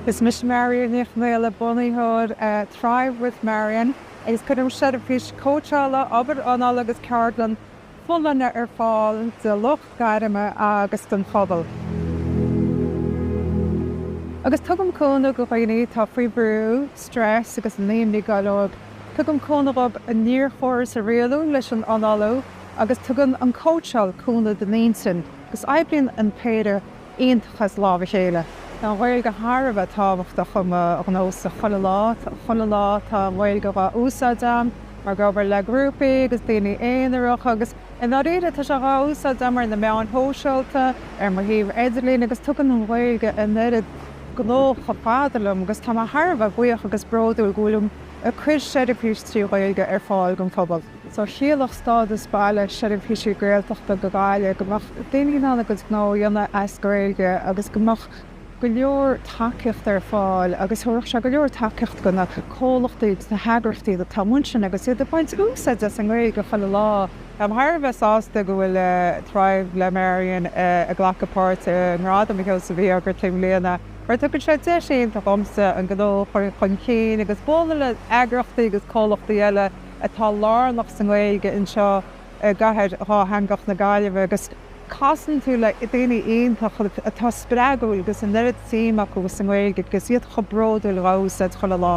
Is mise Marian Ní Chonghaile, bunaitheoir Thrive with Marian agus cuirim seirbhís cóitseála, obair anála agus ceardlann folláine ar fáil do lucht gairme agus don phobal. Agus tugaim cúnamh go dhaoine atá faoi bhrú, stress agus an imní go leor. Tugaim cúnamh dóibh a néarchóras a rialú leis an análú agus tugann an cóitseáil cúnamh don intinn. Agus oibríonn an péire iontach as lámh a chéile. Tá an Ghaeilge thar a bheith tábhachtach i mo ghnósa chuile lá. Tá an Ghaeilge dhá úsáid a'm, ag obair le grúpaí agus daoine aonaracha agus i ndáiríre tá sé dhá úsáid a'm ar na meáin shóisialta, ar mo shuíomh idirlín agus tugann an Ghaeilge an oiread gnó chomh fada liom agus tá mé thar a bheith buíoch agus bródúil go bhfuilim ag cuir seirbhís trí Ghaeilge ar fáil don phobal. So chiallódh stádas baile seirbhísí Gaeltachta do Ghaillimh, go mbeadh daoine in ann a gcuid gnó a dhéanamh as Gaeilge agus go mbeadh go leor tacaíocht ar fáil agus thabharfadh sé go leor tacaíocht go na comhlachtaí agus na heagraíochtaí atá amuigh ansin agus iad ag baint úsaid as an nGaeilge chuile lá. Táim thar a bheith sásta go bhfuil Thrive le Marian ag glacadh páirt i nGradam Sheosaimh Uí Ógartaigh i mbliana mar tugann sé deis iontach dhomsa an gnó a chur chun cinn agus bualadh le eagraíochtaí agus comhlachtaí eile atá lárnach sa nGaeilge anseo i gcathair dhátheangach na Gaillimhe agus casann tú le daoine iontacha atá spreagúil agus an oiread suim acu sa nGaeilge agus iad chomh bródúil dha úsáid chuile lá.